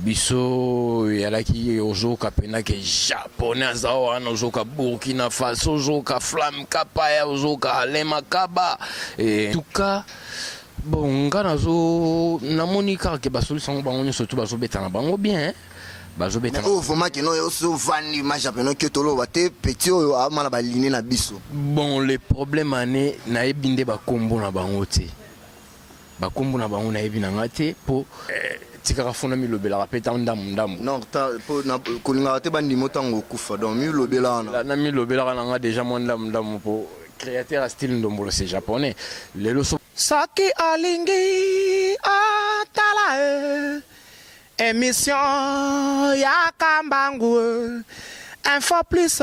biso eyalaki ozoka mpena ke japonais aza wana ozoka burkina faso ozoka flamme kapaya ozoka alain makaba e, tuka bon nga nazo namoni kaka ke basolisa yango bango nyonso tu bazobeta na bango bien bazobeta oyo vraimen kino oso vandi ma japonais ke toloba te petit oyo aama na baline na biso bon le problème ane nayebi nde bakombo na bango te Ba kombo na bango na yebi na nga te po tikaka fo na mi lobelaka pe tango ndambu ndambu. Non po na ko lingaka te ba ndima yo tango okufa donc mi lobela wana. Na mi lobelaka na nga dejà mwa ndambu ndambu po createur ya style ndombolo c'est japonais lelo soki. Soki olingi otala eh emission ya kambangu eh info plus.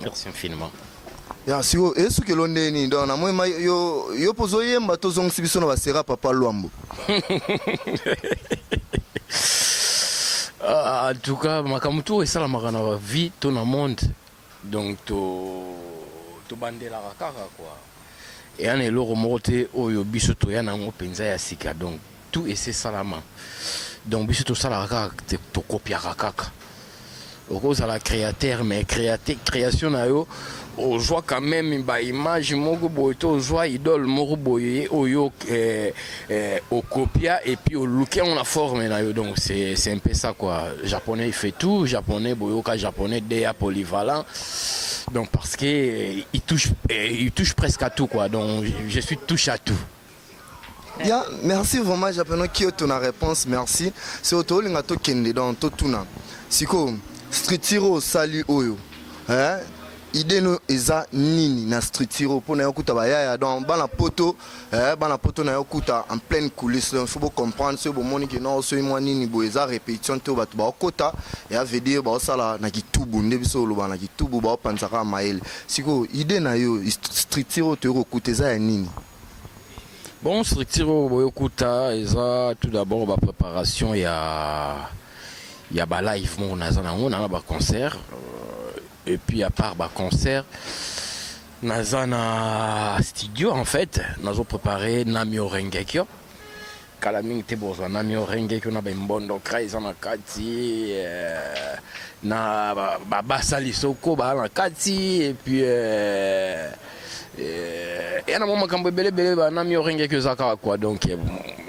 Merci infiniment. Ya siko esuki elo ndenge nini donc na moi ma yo yo pozo yemba to zongisi biso na ba sera papa Luambo. Ah, en tout cas makambo to esalamaka na ba vie to na monde donc to tobandelaka kaka kua eya na eloko moko te oyo biso toya na yango mpenza ya sika donc Tout ese salama donc biso tosalaka kaka te tokopiaka kaka okozala créateur mais créate création na yo ozwa quand même ba image moko boye to ozwa idole moko boye oyo eh, eh, okopia et puis oluki yango na forme na yo donc c'est c'est un peu ça quoi japonais il fait tout japonais boyoka japonais dea polyvalent donc parce que eh, il touche eh, il touche presque à tout quoi donc je suis touche à tout Ya merci vraiment japeno kioto na reponse merci siko tolinga tokende donc totuna siko structure oyo osali oyo eh, idee no eza nini na structure oyo mpo na yo kuta bayaya donc bana poto eh, bana poto na yo kuta en pleine coulisse donc faut bocomprendre soki bomoni ke non soki mwa nini boye eza répétition te oyo bato baokota ya veut dire baosala na kitubu nde biso oloba na kitubu baopanzaka mayele sikoyo idee na yo structure oyo toyei kokuta eza ya nini Bon structure oyo boyokuta eza tout d'abord ba préparation ya ya ba live moko naza nango na ba concert euh, et puis à part ba concert naza na studio en fait nazo préparer Namio Rengekyo Kala mingi te bozwa na miorenge ko na ba mbondo kra eza na kati euh, na ba basali soko ba na kati et puis euh, euh, ya na mwa makambo ebele ebele ba na miorenge ko eza kaka quoi donc euh,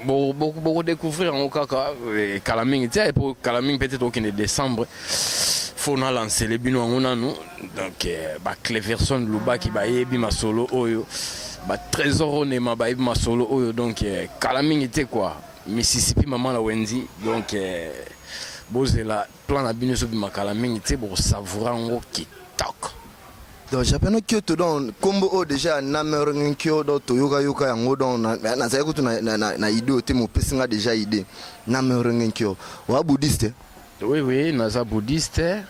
bo- bo- bokodécouvrir yango kaka eh, kala mingi te po kala mingi peut-être okende décembre fo na lancele bino yango nanu Donc euh, ba Cleverson Luba qui bayebi masolo oyo, ba Trésor Onema bayebi masolo oyo donc euh, kala mingi te quoi. Mississippi maman la Wendy donc euh, bozela plan na bino so bima kala mingi te bo savoura ngo kitoko. donc japano kyoto donc nkombo oyo deja namerenge kyo donc toyokayoka yango donc na- na- nazali kutu na- na- na na idée oyo te mopesi nga deja idée namerenge kyo oa bouddhiste Oui oui, naza bouddhiste.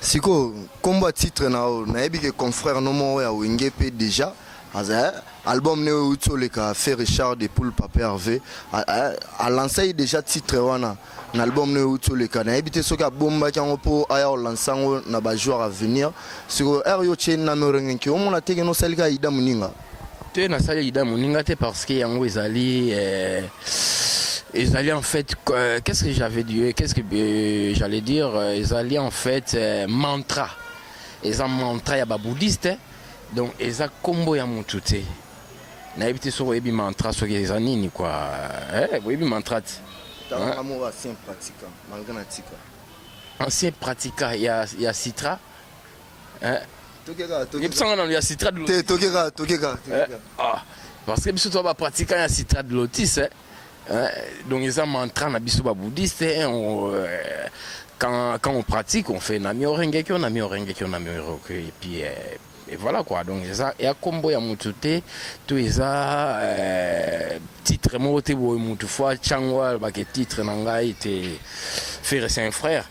Sikoyo kombo ya titre na yo nayebi ke confrère no moko ya wenge pe deja aza eh, album ne euti oleka fe richard de poul pape herve alansaki eh, deja titre wana na album ne euti oleka nayebi te soki abombaki yango mpo aya olanse yango na bajoueur avenir sikoyo heure yo otie name orengenki omona teke nosalika ida moninga te na sali lida moninga te parce que yango ezali eh, ezali en fait euh, qu'est-ce que j'avais dit euh, qu'est-ce que euh, j'allais dire euh, ezali en fait euh, mantra eza mantra ya babouddhiste eh. donc eza kombo ya motu te nayebi te soki oyebi mantra soki eza nini kua eh, boyebi mantra te ancien pratica ya, ya citra Eh? Toke kaka, toke Yebisa nga nanu ya citra de lotis. Te, toke kaka, toke kaka, toke eh, kaka. Ah, parce que biso to ba pratiquants ya citra de lotis. Eh? Eh, donc eza mantra na biso ba bouddhiste eh, on, euh, quand, quand on pratique on fait namio rengekyo namio rengekyo namio rengekyo et puis euh, et voilà quoi donc eza ya kombo ya mutu te to eza euh, titre moko te boye mutu fo atyango alobake titre na ngai te ferre c'est un frère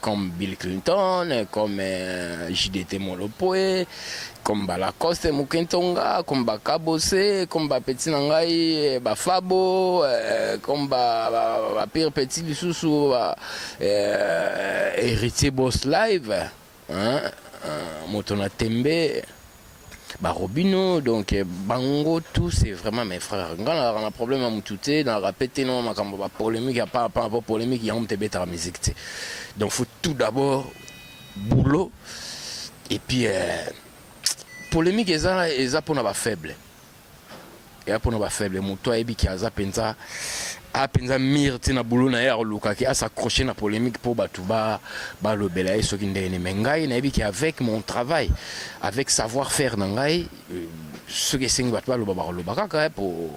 comme Bill Clinton, comme euh, JDT Molopwe, comme Balacoste Mukentonga, comme Bakabose, comme Bapeti Nangai, Bafabo, euh, comme ba, ba, ba Pire Petit Lisusu, ba, euh, Héritier Boss Live, hein, euh, Motona Tembe. ba robino donc bango tout c'est vraiment mes frères nga nazalaka na problème ya mutu te nazalaka pe te na makambo ba polemique ya pa pa po polemique yango moto ebetaka musique te donc faut tout d'abord boulot et puis euh, polemique eza eza pona ba faible eya mpona ba faible moto ayebi ke aza mpenza a mpenza mire ti na boulot na ye akoluka ke as'accroche na polemique mpo bato balobela ba ye soki ndenge nini mais ngai nayebi ke avec mon travail avec savoir faire na ngai euh, soki esengi bato baloba bakoloba kaka mpo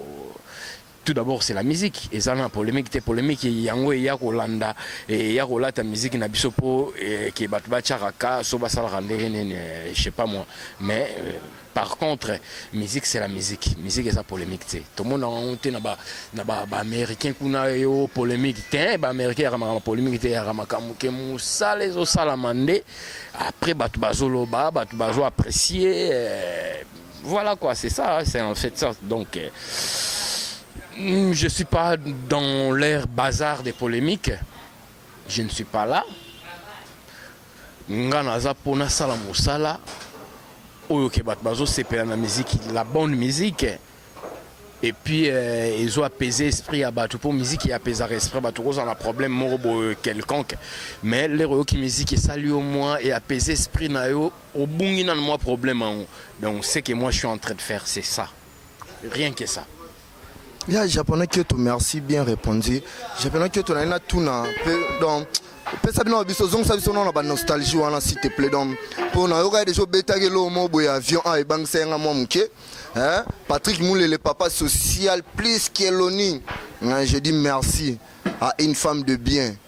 Tout d'abord c'est la musique eza na polemique te polemique yango eya kolanda eya kolata musique na biso po ke bato batiaka ka so basalaka ndenge nini je sais pas moi mais euh, par contre musique c'est la musique musique eza polemique te tomona yango te na ba na ba ba américain kuna yo polemique te ba américain yaka makambo polemique te yaka makambo ke mosala ezosalama nde après bato bazoloba bato bazo apprécier euh, Voilà quoi, c'est ça, hein, c'est en fait ça. Donc, euh, mm, je ne suis pas dans l'air bazar des polémiques. Je ne suis pas là. nga naza mpo nasala mosala oyo ke bato bazosepela na miziki la bonne musique et puis euh, ezo apaiser esprit ya bato mpo miziki apesaka esprit bato kozala na problème moko boye quelconque mais lero oyoki miziki esali yo mwa e apaiser esprit na yo Obungi nanu mwa problème yango donc ce que moi je suis en train de faire c'est ça rien que ça. Ya japonais kioto merci bien répondu japonais kioto na ye natuna mpe donc pesa bino biso zongisa biso nao na banostalgie wana s'il te plaît donc mpo nayoka ye deja obetaki eloko moko boye avion awa ebangisa ye nga mwa moke patrick mulele papa social plus keloni je dis merci à une femme de bien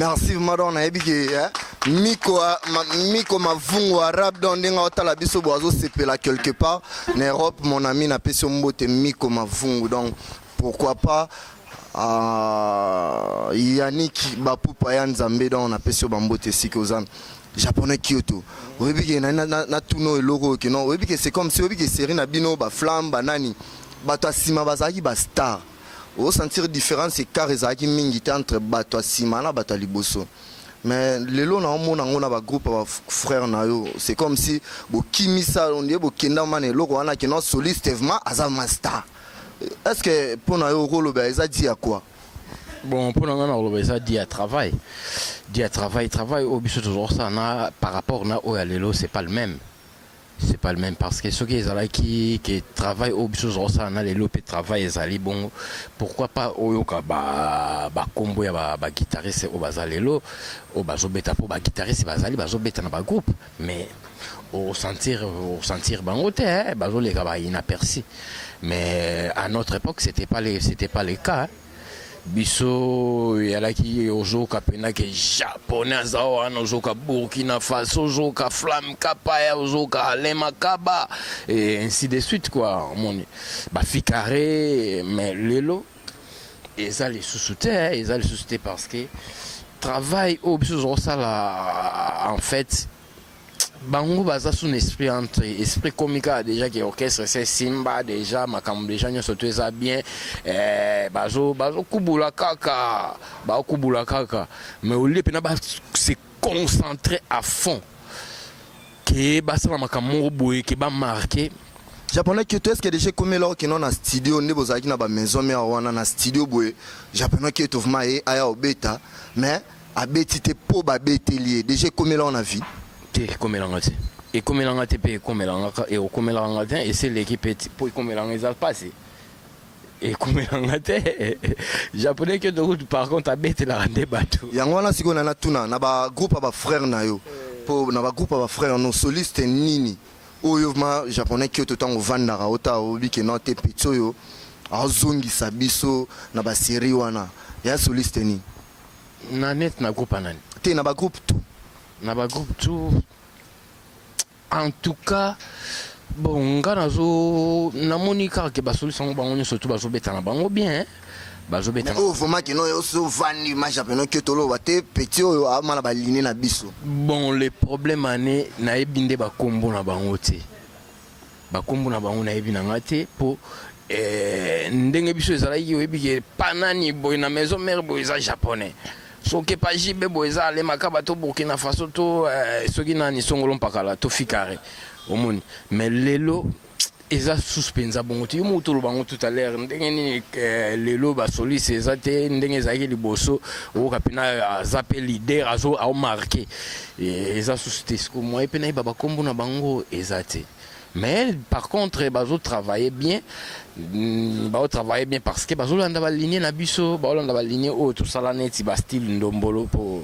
merci vraiment donc nayebi ke eh? miko, ma, miko mavungu arabe donc ndenge otala biso bo azosepela quelque part na europe mon ami napesi yo mbote miko mavungu donc Pourquoi pas uh, Yannick Bapupa ya Nzambe donc na pesi yo bambote esika oza japonais Kyoto oyebi ke na, na, na, na tuno eloko ke non oyebi ke c'est comme si oyebi ke série na bino ba flamme ba nani bato ya nsima bazalaki ba star osentir différence écart ezalaki mingi te entre bato ya nsima na bato ya liboso mais lelo naomona yango na bagroupe ya bafrère na yo c'est comme si bokimisa ondie bokendama na eloko wana kino soliste evement aza mastar Est ce que pour na yo okoloba eza dit à quoi? Bon pour na nga na koloba eza dit à travail. Dit à travail travail oyo biso tozosala na par rapport na oyo ya lelo c'est pas le même. C'est pas le même parce que soki ezalaki que travail oyo biso tozosala na lelo pe travail ezali bongo pourquoi pas oyoka ba ba kombo ya ba, ba guitariste oyo baza lelo oyo bazobeta po ba guitariste bazali bazobeta na ba groupe Mais o sentir o sentir bango te hein, bazo leka ba inaperçu. Mais à notre époque c'était pas les c'était pas le cas. Hein. biso eyalaki ozoka mpena ke japonais aza wana ozoka burkina faso ozoka flamme kapaya ozoka alain makaba et ainsi de suite quoi omoni bafikare mais lelo eza lisusu te eh, eza lisusu te parce que travail oyo biso tozosala en fait bango baza sous esprit entre esprit komika déjà ke orchestre se simba déjà makambo déjà nyonso to eza bien eh, bazokubula kaka bakubula kaka mais olie mpena base concentre à fond ke basala makambo moko boye ke bamarke japonais kyoto eske deja ekomi eloko kino na studio nde bozalaki na bamaison mare wana na studio boye japonais kyoto vrma ye aya obeta mais abeti te mpo babeteli ye deja ekomi eloko na vie te ekomelanga te ekomelanga te mpe ekomelanga ekomelanga te ese eleki mpe mpo ekomelanga eza mpasi ekomela nga te japonais kyoto kutu par contre abetelaka nde bato yango wana sikoyo na natuna na bagroupe ya bafrère na yo mpo na bagroupe ya bafrère no soliste nini oyo ma japonais kyoto ntango ovandaka ota oyebi ke no te peti oyo azongisa biso na baserie wana ya soliste nini na net na groupe ya nani te na bagroupe tout na bagroupe tout En tout cas bon nga nazo namoni kaka ke basolisi yango bango nyonso tu bazobetana bango bien hein. bazobetana oyo vraiment kino oso vandi maja peno ke toloba te petit oyo aoma na baline na biso bon le problème ane nayebi nde bakombo na bango te bakombo na bango nayebi na nga te mpo eh, ndenge biso ezalaki oyebi ke panani boye na maison mère boye eza japonais Soki epa JB boye eza ale makaba to Burkina Faso to eh, soki nani songolo mpakala to fikare omoni mais lelo eza susu mpenza bongo te yo moko toloba yango tout à l'heure ndenge nini eh, lelo basoliste eza te ndenge ezalaki liboso oyoka mpena aza mpe leader azo aomarke eh, eza susu te siko moye mpe nayeba bakombo na bango eza te Mais par contre bazo travailler bien mm, bazo travailler bien parce que bazo landa ba ligne na biso bazo landa ba ligne oyo tosala neti ba style ndombolo po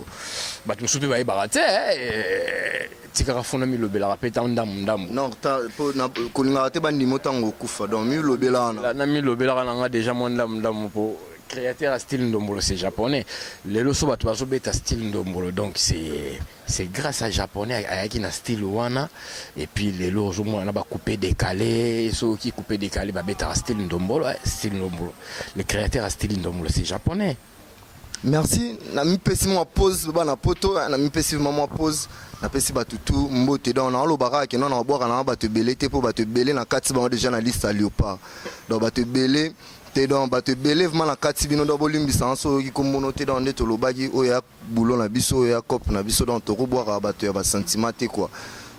bato mosusu mpe bayebaka te eh, tikaka fona milobelaka mpe ta ndambu ndambu non ta- po- na- kolingaka te bandimo ntango okufa donc milobela wana La- na milobelaka na nga deja mwa ndambu ndambu mpo créateur ya style ndombolo c'est japonais lelo so bato bazobeta style ndombolo donc c'est C'est grace à japonais ayaki na style wana et puis lelo ozo mona na ba coupe decale soki coupe decale ba betaka style ndombolo eh, style ndombolo le créateur à style ndombolo c'est japonais merci na mi pesi mwa pause bana poto eh, na mi pesi vraiment mwa pause na pesi ba tutu mbote donc na loba kaka kino na bwaka na ba te belé te po ba te belé na kati ba déjà na liste à léopard donc ba te belé te donc ba te belé vraiment na kati bino donc bolimbisa soki kombono te donc nde tolobaki oya boulot na biso ya cop na biso donc toko bwaka bato ya ba sentiment te quoi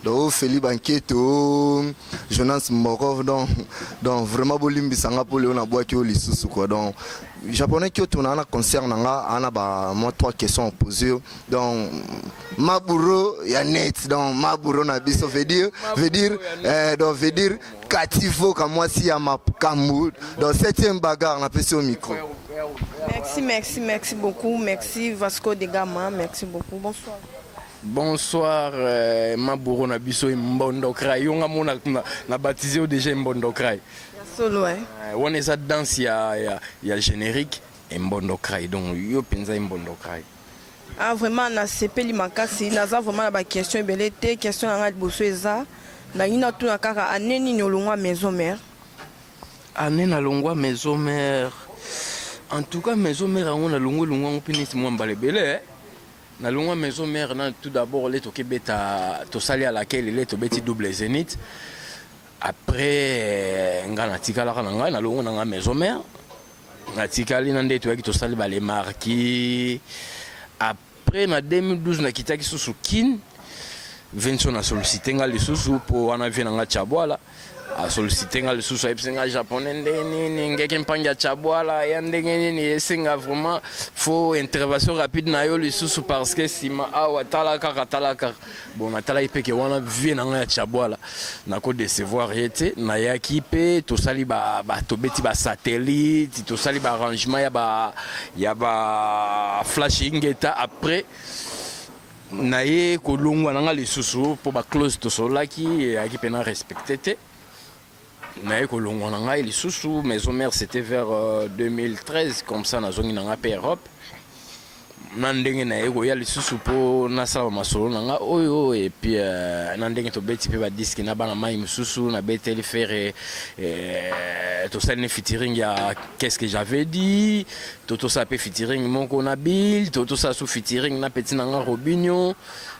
donc oh, Feli Banketo oh, Jonas Mbokov donc donc vraiment bolimbisa nga po leo na bwaki yo lisusu quoi donc japonais Kyoto na ana concert na nga ana ba moi trois questions posées yo donc maburo ya net donc maburo na biso veut dire veut dire eh, donc veut dire Cathy Voka mwasi ya makambo dans septième bagarre na pesi au micro. Merci, merci, merci beaucoup. Merci Vasco de Gama. Merci beaucoup. Bonsoir. Bonsoir, euh, ma bourreau na biso et Mbondo Krai. On a mon na, na baptisé au déjà Mbondo Krai. Solo, hein. Euh, on est à danse, il y a, y a générique et Mbondo Krai. Donc, yo penza Mbondo Krai. Ah vraiment nasepeli makasi naza vraiment na ba question ebele te question na ngai liboso eza nalingi natuna kaka ane nini olongwa maison mère ane nalongwa maison mère en tout cas maison mère yango nalongwa elongwa yango mpe neti mwa mbala ebele eh. nalongwa maison mère na tout d'abord le tokebeta tosali ya lakeli le tobeti double zénith après eh, ngai natikalaka na ngai nalongwa na ngai maison mère Natikali na ndetu yaki tosali ba les marquis. Après na 2012 nakitaki susu Kin. Vincent a sollicité nga lisusu po wana vie na nga Chabwala. A sollicité nga lisusu ayebisi nga japonais nde nini ngeke mpangi ya Chabwala ya ndenge nini esenga vraiment faut intervention rapide na yo lisusu parce que sima awa tala kaka tala kaka. Bon natalaki mpe ke wana vie na ngai ya chabwala nako decevoir ye te nayaki mpe tosali ba, ba, tobeti basatellite tosali baarrangement ya ba, ya ba flash ingeta après naye kolongwa na ngai lisusu mpo baclose tosololaki eyaki mpe na respecte te naye kolongwa na ngai lisusu maison mère c'était vers 2013 euh, comme ça nazongi na ngai mpe europe na ndenge naye koya lisusu mpo nasala masolo na ngai oyo epuis euh, na ndenge tobeti mpe badiski na bana mai mosusu nabeteli fere euh, tosali ne fitiring ya qu'est-ce que j'avais dit to tosala mpe fitiring moko na bill to tosala su fitiring na peti na ngai robinio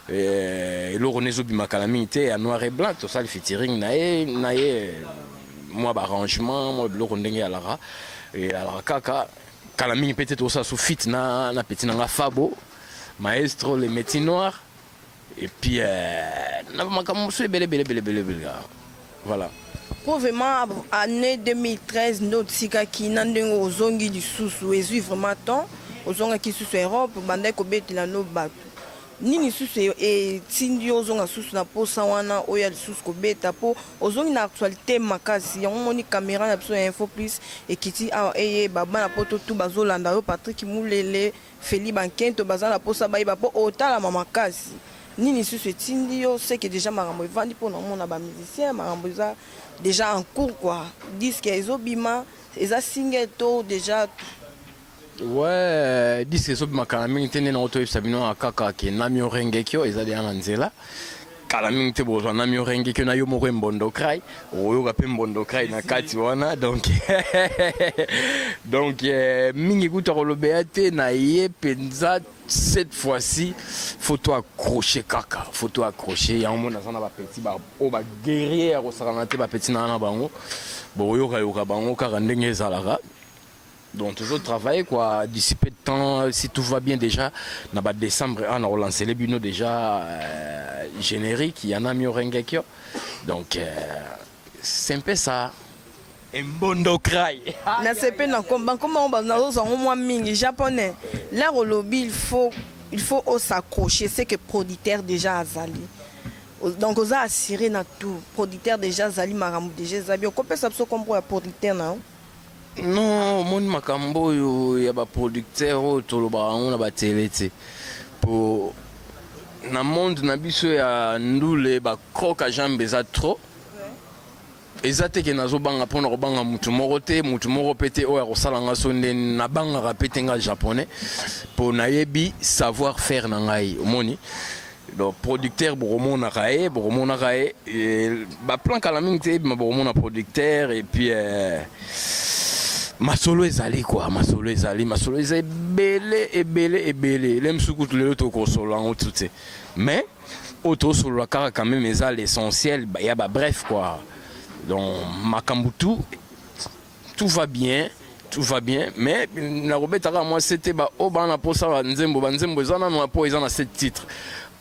Eh, eloko ne ezobima kala mingi te ya noir et blanc tosali featuring na ye na ye mwa baarrangement mwa biloko ndenge alaka alaka kaka kala mingi mpe te tosala su fit na, na peti na nga fabo maestro le métier noir epuis eh, na makambo mosusu ebele ebele ebele ebele ebele Voilà. Po vraiment annee 2013 nde otikaki na ndenge ozongi lisusu ezwi vraiment temps ozongaki lisusu Europe obandaki kobetela no bato nini lisusu e- etindi yo ozonga lisusu na posa wana oya lisusu kobeta po ozongi na actualité makasi yango omoni kamera na biso ya info plus ekiti awa eyeba bana poto tu bazolanda yo patrick mulele Felly ba nkento baza na posa bayeba po otalama makasi nini lisusu etindi yo seke dejà makambo evandi pona omona ba musiciens makambo eza dejà en cours quoi disque ezo bima eza single to dejà Ouais, disque ezo bima kala mingi te nde nango toyebisa bino kaka ke namio rengekio eza deja na nzela kala mingi te bozwa na miorenge ke na yo moko embondokrai oyoka mpe mbondokrai na kati wana donc donc eh, mingi kutu akolobela te na ye mpenza cette fois-ci foto accroche kaka foto accroche yango mona aza na bapeti oyo baguerrier ya kosakana te bapeti na na bango bokoyokayoka bango kaka ndenge ezalaka Donc toujours travailler quoi, d'ici peu de temps, si tout va bien déjà, na ba décembre, on a relancé les bino déjà euh, générique, il y en a mieux Rengekyo. Donc euh, c'est un peu ça. Mbondo cry. na sepe na komba nkoma yango nazozwa yango mwa mingi japonais lar olobi il faut il faut os'accrocher ce que producteur déjà azali O- donc oza assuré na tout producteur déjà azali makambo déjà eza bien okopesa biso kombo ya producteur na yo Non omoni makambo oyo ya ba producteur oyo tolobaka yango na ba tele te po na monde na biso ya ndule ba croc a jambe eza trop eza te ke nazo banga pona kobanga mutu moko te mutu moko pe te oyo akosala nga so nde na bangaka pe te nga japonais po nayebi savoir faire na ngai omoni Donc producteur bokomonaka ye bokomonaka ye eh, baplan kala mingi te ebima bokomona producteur et puis eh, masolo ezali kua masolo ezali masolo eza ebele ebele ebele ele mosusu kutu lelo tokosolola yango tu te mais oyo tosolola kaka quand même eza l'essentiel ya babref kua donc makambo tu tout va bien tout va bien mais nakobeta kaka mwa sete baoyo baa na mposa banzembo banzembo eza nano mpo eza na sete titre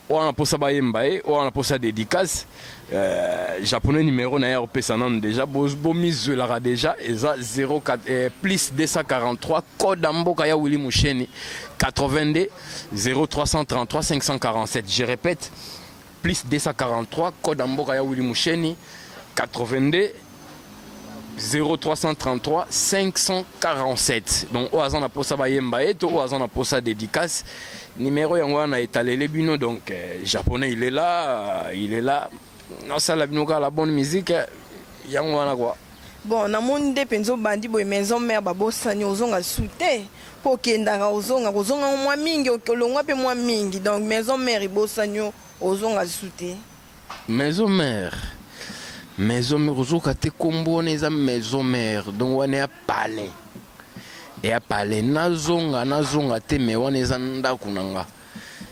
oyo ana mposa bayemba ye oyo ana mposa dédicace euh, japonais numéro na ye akopesa nano déjà bomizwelaka bo déjà eza 04 eh, plus 243 code ya mboka ya willi musheni 82 0333 547 je répète Plus 243 code ya mboka ya Willy Musheni 82 0333 547 donc oyo aza na posa bayemba ye to oyo aza na posa dédicace numero yango wana etalele bino donc euh, japonais il est là euh, il est là nasala bino kaka la bonne musique yango wana quoi Bon na moni nde penza obandi boye maison mère babosani ozonga lisusu te mpo okendaka ozonga kozonga ngo mwa mingi ok- olongwa mpe mwa mingi donc maison mère ebosani yo ozonga lisusu te maison mère maison mère ozoka te kombo wana eza maison mère donc wana ya palais ya palais nazonga nazonga te mais wana eza ndako na nga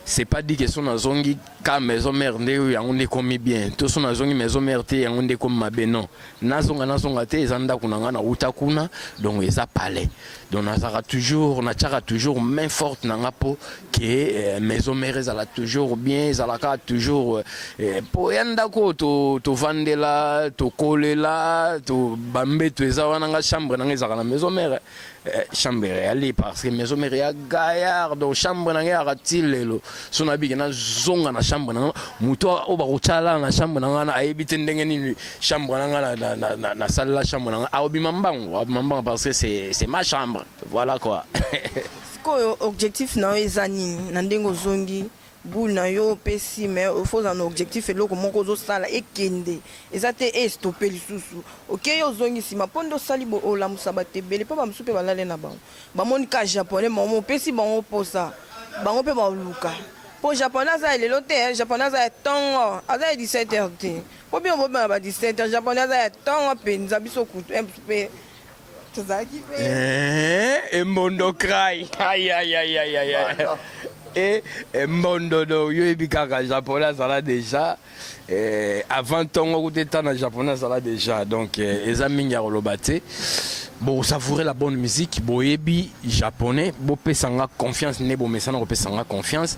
c'est pas dit que son azongi ka maison mère nde yango nde ekomi bien to son azongi maison mère te yango nde ekomi mabe non nazonga nazonga te eza ndako na ngai nauta kuna donc eza palais donc nazalaka toujours natyaka toujours main forte na ngai mpo ke euh, maison mère ezala toujours bien ezalaka toujours euh, euh, mpo ya ndako oyo tovandela tokolela to bambeto eza wana ngai chambre na ngai ezalaka na maison mère Eh, chambre eyali parce que maison mère ya gaillard donc chambre na ngai yaka ti lelo so nabiki nazonga na chambre na ngai moto oyo bakotyala na chambre na ngai na ayebi te ndenge nini chambre na ngai nasalela chambre na ngai akobima mbangu akobima mbangu parce que c'est ma chambre voilà quoi sikoyo objectif na yo eza nini na ndenge ozongi Boule na yo opesi mais il faut ozala na objectif eloko moko ozosala ekende eza te e stoppe lisusu okei ozongi nsima mpo nde osali bo olamusa bato ebele mpo bamosusu mpe balale na bango bamoni ka japonais mamo opesi bango mposa bango mpe baoluka mpo japonais aza ya lelo te eh, japonais aza ya ntongo aza ya 17 heures te mpo bino bobima ba 17 heures japonais aza ya ntongo mpenza biso kutu eh, mpe tozalaki pe eh, embondo cry e embondo do yo yebi kaka japonais azala déjà eh, avant ntongo kuta eta na japonais azala déjà donc eh, eza mingi ya koloba te bosavoure la bonne musique boyebi japonais bopesa nga confiance nde bomesana kopesa nga confiance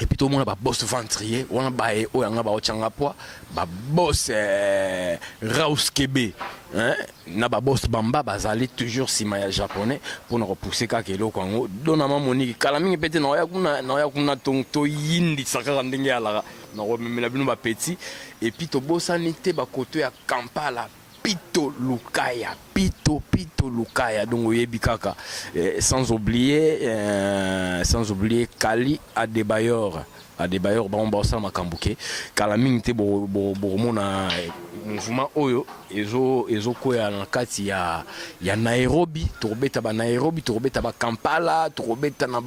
et puis tomona ba boss ventrier wana baye oyo yanga baotya nga pwa ba boss eh, raus kebe hein? na ba boss bamba bazali toujours nsima ya japonais mpo na kopousse kaka eloko yango dona mamoniki kala mingi mpe te naoya kuna naoya kuna to- toyindisa kaka ndenge alaka nakomemela bino bapeti epuis tobosani te bakoto ya kampala Pito lukaya pito pito lukaya donc oyebi kaka eh, sans oublier eh, sans oublier kali adebayor adebayor bango baosala makambo ke kala mingi te bokomona eh, mouvement oyo ezokwea ezo na kati ya, ya nairobi tokobeta banairobi tokobeta bakampala tokobeta na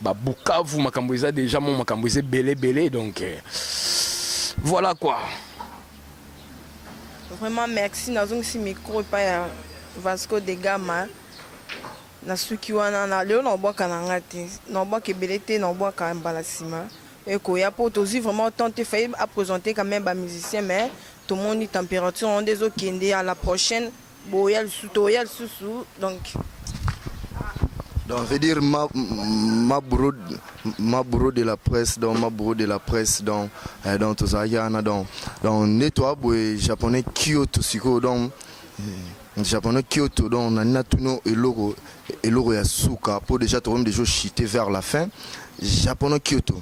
babukavu ba makambo eza deja mo makambo eza ebele ebele donc eh, voilà quoi Vraiment merci nazongisi micro epai ya Vasco de Gama nasuki wana na lelo naobwaka na nga te naobwaka ebele te naobwaka mbala nsima ekoya mpo tozwi vraiment temps te fayi apresente quand même bamusicien mais tomoni température yango nde ezokende à la prochaine Boya lisusu toya lisusu donc donc veut dire ma ma bourreau ma bourreau de la presse donc ma bourreau de la presse donc eh, donc tozalaki wana donc donc nde toa boye japonais kyoto sikoyo donc eh, japonais kyoto donc nani natuni eloko eloko ya suka mpo déjà tokomi déjà ochite vers la fin japonais kyoto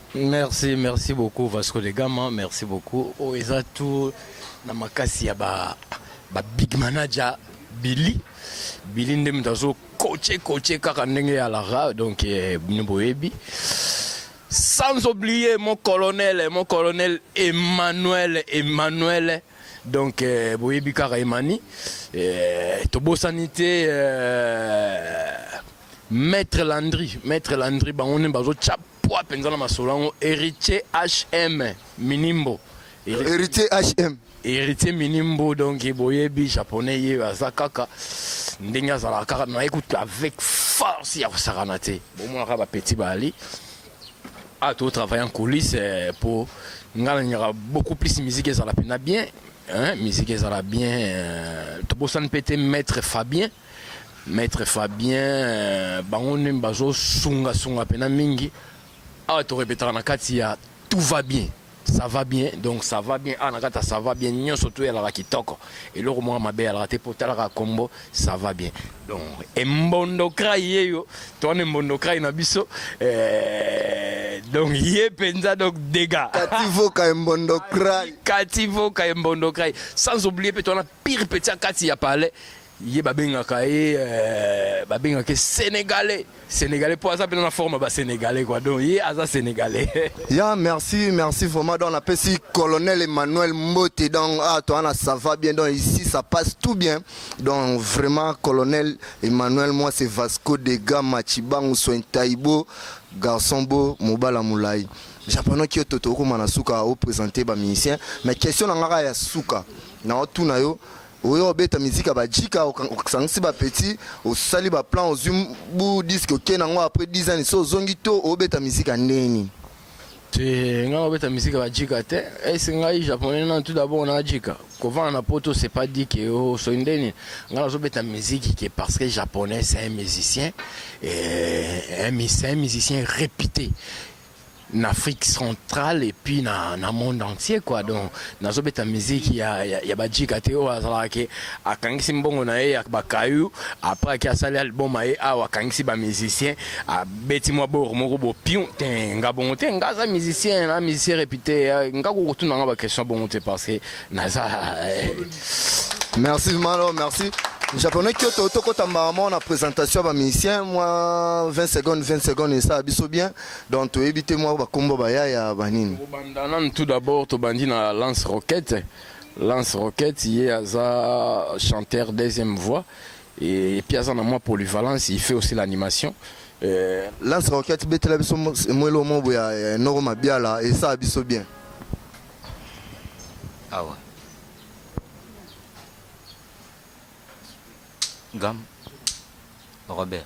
Merci merci beaucoup Vasco de Gama merci beaucoup oyo eza tout na makasi ya ba ba big manager Billy Billy nde moto azo coache coache kaka ndenge ya Lara donc eh, bino boyebi sans oublier mon colonel mon colonel Emmanuel Emmanuel donc eh, boyebi kaka Emani eh, tobosani te eh, maître Landry maître Landry bango nde bazo chap Pua penza na masolo yango Heritier HM Minimbo. Heritier HM. Heritier Minimbo donc boyebi japonais ye aza kaka ndenge azalaka kaka mais écoute avec force ya kosakana te. Bomonaka ba petit bali. Ah, tu travailles en coulisses eh, pour nga nalingaka beaucoup plus musique ezala mpena bien hein, musique ezala bien euh, tobosani mpe te maître fabien Maitre Fabien euh, bango nde bazo sunga sunga pena mingi awa to repetaka na kati ya tout va bien ça va bien donc ça va bien awa na kati ya ça va bien nyonso to yalaka kitoko eloko moko mabe yalaka te mpo talaka kombo ça va bien donc embondokrai yeyo to wana embondokrai na biso euh, donc ye mpenza donc dega kativoka embondokrai kativoka embondokrai sans oublier mpe to wana Pire petit ya kati ya palais ye babengaka ye euh, babengaka ye sénégalais sénégalais mpo aza mpena na forme ya basénégalais kua donc ye aza sénégalais ya merci merci vraiment donc napesi colonel emmanuel mbote donc ah, toi na ça va bien donc ici ça passe tout bien donc vraiment colonel emmanuel moi c'est vasco de gama chibangu soin taibo garçon beau mobala molai japonaki yo toto okoma na suka opresente bamusicien mais question na ngaka ya suka na otuna yo oyo obeta miziki ya bajika osangisi bapeti osali baplan ozwi bu diske oke nango après 10 ans so ozongi to obeta miziki ya ndenge nini te ngai obeta miziki ya bajika te ese ngai japonais nanu tout d'abord na jika kovanda na poto c'est pas dit que osoyi oh, ndeni ngai nazobeta miziki ke parce que japonais c'est un musicien c'est un musicien réputé na Afrique centrale et puis na, na monde entier quoi donc nazobeta musique ya, ya, ya bajika te oyo azalaka ke akangisi mbongo na ye ya bakayu après ake asali album aye awa akangisi bamusicien abeti mwa boro moko bopion te nga bongo te nga aza musicien na musicien réputé nga kokotuna nga baquestion bongo te parce que naza eh. merci malo merci japonais kyoto tokota mbala moko na présentation ya bamusicien mwa 20 secondes 20 secondes esala biso bien donc toyebi te mwa bakombo bayaya banini kobanda nanu tout d'abord tobandi na lance roquette lance roquette ye aza chanteur deuxième voix et puis aza na mwa polyvalence il fait aussi l'animation euh, lance roquette betela biso mwelo mobo ya noro mabiala esaa biso bien awa gam robert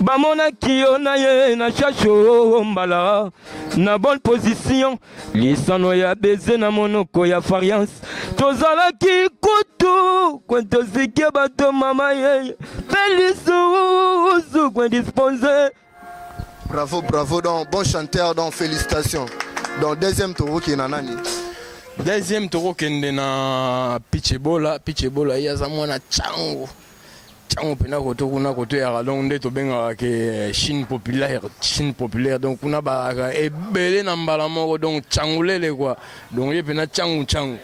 bamonaki yo na ye na shasho oh, mbala na bonne position lisano ya beze na monoko ya fariance tozalaki kutu kwentosike bato mama ye mpe lisusu kwendisponse bravo bravo donc bon chanteur donc félicitations donc deuxième tokoki na nani deuxième tokokende na pichebola pichebola ye aza mwana cango Tango pena koto kuna koto ya donc nde tobengaka ke Chine populaire, Chine populaire donc kuna balaka ebele na mbala moko donc cangulele quoi donc ye pena cangu cangu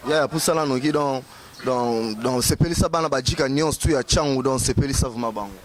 ya ya pusana noki donc donc donc sepelisa bana bajika nyonso tu ya cangu donc sepelisa vraiment bango